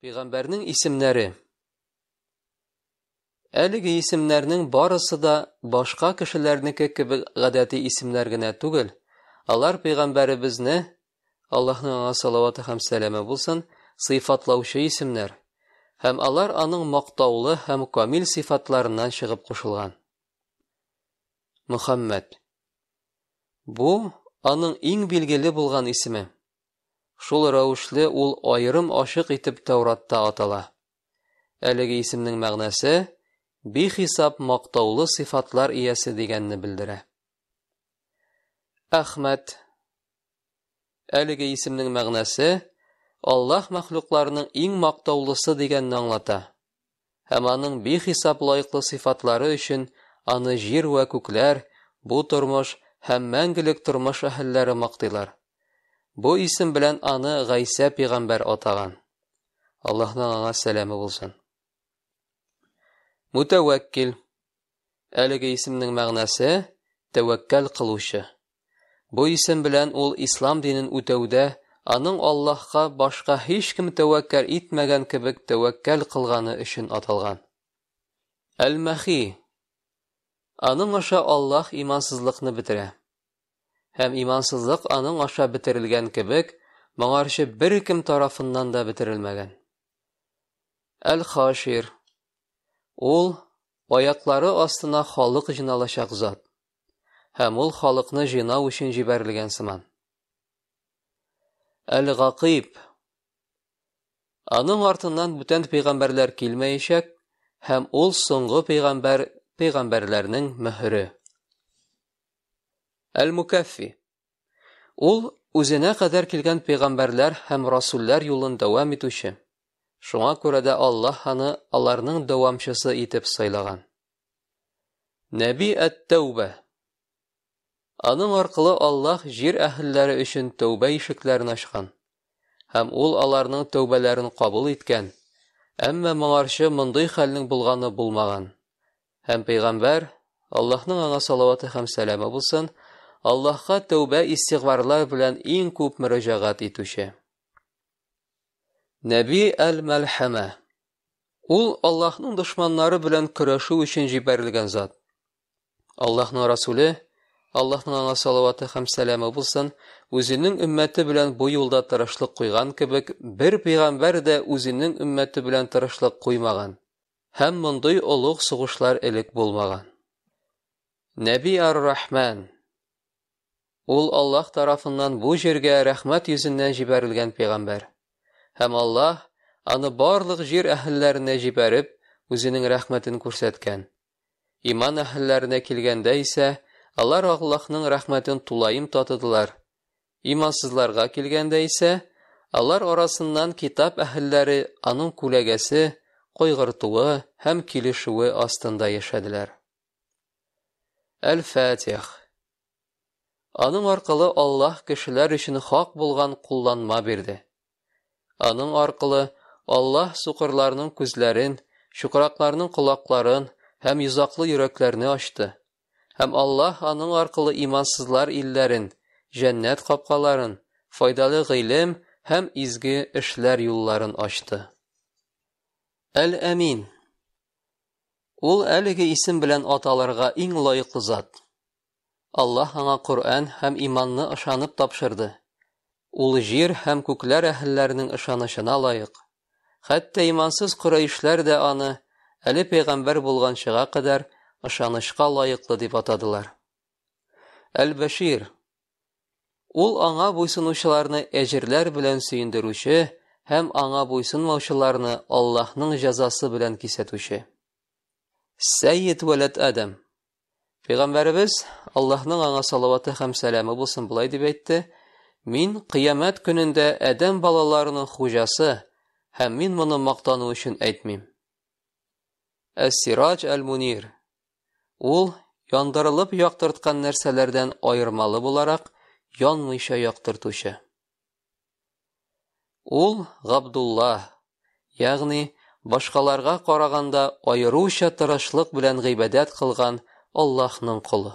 Пигамбәрнең исемнәре. Әлеге исемнәрнең барысы да башка кешеләрнеке кебек гадәти исемнәр генә түгел. Алар пигамбәребезне, Аллаһның аңа салаваты һәм сәламе булсын, сыйфатлаучы исемнәр. Һәм алар аның мактаулы һәм камил сыйфатларыннан чыгып кушылган. Мөхәммәд. Бу аның иң билгеле булган исеме. Шул рәвешле ул аерым ачык итеп Тәүратта атала. Әлеге исемнең мәгънәсе бихисап мактаулы сыйфатлар иясе дигәнне белдерә. Әхмәт Әлеге исемнең мәгънәсе Аллаһ мәхлукларының иң мактаулысы дигәнне аңлата. һәм аның бихисап лаеклы сыйфатлары өчен аны җир вә күкләр, бу тормыш һәм мәңгелек тормыш әһелләре мактыйлар. Бу исем белән аны Гайсә пигамбәр атаган. Аллаһның аңа сәламе булсын. Мутәвәккил. Әлеге исемнең мәгънәсе, тәвәккәл кылучы. Бу исем белән ул ислам динен үтәүдә аның Аллаһка башка һичкем тәвәккәл итмәгән кебек тәвәккәл кылганы өчен аталган. Әл-Мәхи. Аның аша Аллаһ имансызлыкны бетерә. Һәм имансызлык аның аша бетерелгән кебек, моңарчы беркем тарафыннан да бетерелмәгән. Әл-Хашир. Ул аяклары астына халык җыйналачак зат. Һәм ул халыкны җыйнау өчен җибәрелгән сыман. Әл-Гакыйб. Аның артыннан бүтән пәйгамбәрләр килмәячәк, һәм ул соңгы пәйгамбәр пәйгамбәрләрнең мөһере. Әл-Мукаффи. Ул үзенә кадәр килгән пәйгамбәрләр һәм расуллар юлын дәвам итүче. Шуңа күрә дә Аллаһ аны аларның дәвамчысы итеп сайлаган. Нәби әт-Тәүбә. Аның аркылы Аллаһ җир әһелләре өчен тәүбә ишекләрен ачкан һәм ул аларның тәүбәләрен кабул иткән. Әмма моңарчы мондый хәлнең булганы булмаган. Һәм пәйгамбәр, Аллаһның аңа салаваты һәм сәламе булсын, Аллаһка тәүбә-истигъфарлар белән иң күп мөрәҗәгать итүче. Нәби әл-Мәлхәмә. Ул Аллаһның дошманнары белән көрәшү өчен җибәрелгән зат. Аллаһның Расуле, Аллаһның аңа салаваты һәм сәламе булсын, үзенең өммәте белән бу юлда тырышлык куйган кебек, бер пәйгамбәр дә үзенең өммәте белән тырышлык куймаган. Һәм мондый олуг сугышлар элек булмаган. Нәби ар-Рахман, ул Аллаһ тарафыннан бу җиргә рәхмәт йөзеннән җибәрелгән пәйгамбәр. Һәм Аллаһ аны барлык җир әһелләренә җибәреп, үзенең рәхмәтен күрсәткән. Иман әһелләренә килгәндә исә, алар Аллаһның рәхмәтен тулаем татыдылар, Имансызларга килгәндә исә, алар арасыннан китап әһелләре аның күләгәсе, кайгыртуы һәм килешүе астында яшәделәр. Әл-Фатих. Аның аркылы Аллаһ кешеләр өчен хак булган кулланма бирде. Аның аркылы Аллаһ сукырларның күзләрен, чукракларның колакларын һәм йозаклы йөрәкләрне ачты. Һәм Аллаһ аның аркылы имансызлар илләрен, җәннәт капкаларын, файдалы гыйлем һәм изге эшләр юлларын ачты. Әл-Әмин. Ул әлеге исем белән аталырга иң лаеклы зат. Аллаһ аңа Коръән һәм иманны ышанып тапшырды. Ул җир һәм күкләр әһелләренең ышанычына лаек. Хәтта имансыз корәишләр дә аны, әле пәйгамбәр булганчыга кадәр, ышанычка лаеклы дип атадылар. Әл-Бәшир. Ул аңа буйсынучыларны әҗерләр белән сөендерүче һәм аңа буйсынмаучыларны Аллаһның җәзасы белән кисәтүче. Сәйид вәләт Адәм. Пәйгамбәребез, Аллаһның аңа салаваты һәм сәламе булсын, болай дип әйтте: "Мин кыямәт көнендә адәм балаларының хуҗасы, һәм мин моны мактану өчен әйтмим". Әс-Сираҗ әл-Мунир. Ул яндырылып яктырткан нәрсәләрдән аермалы буларак янмыйча яктыртучы. Ул Габдулла, ягъни башкаларга караганда аеруча тырышлык белән гыйбадәт кылган Аллаһның колы.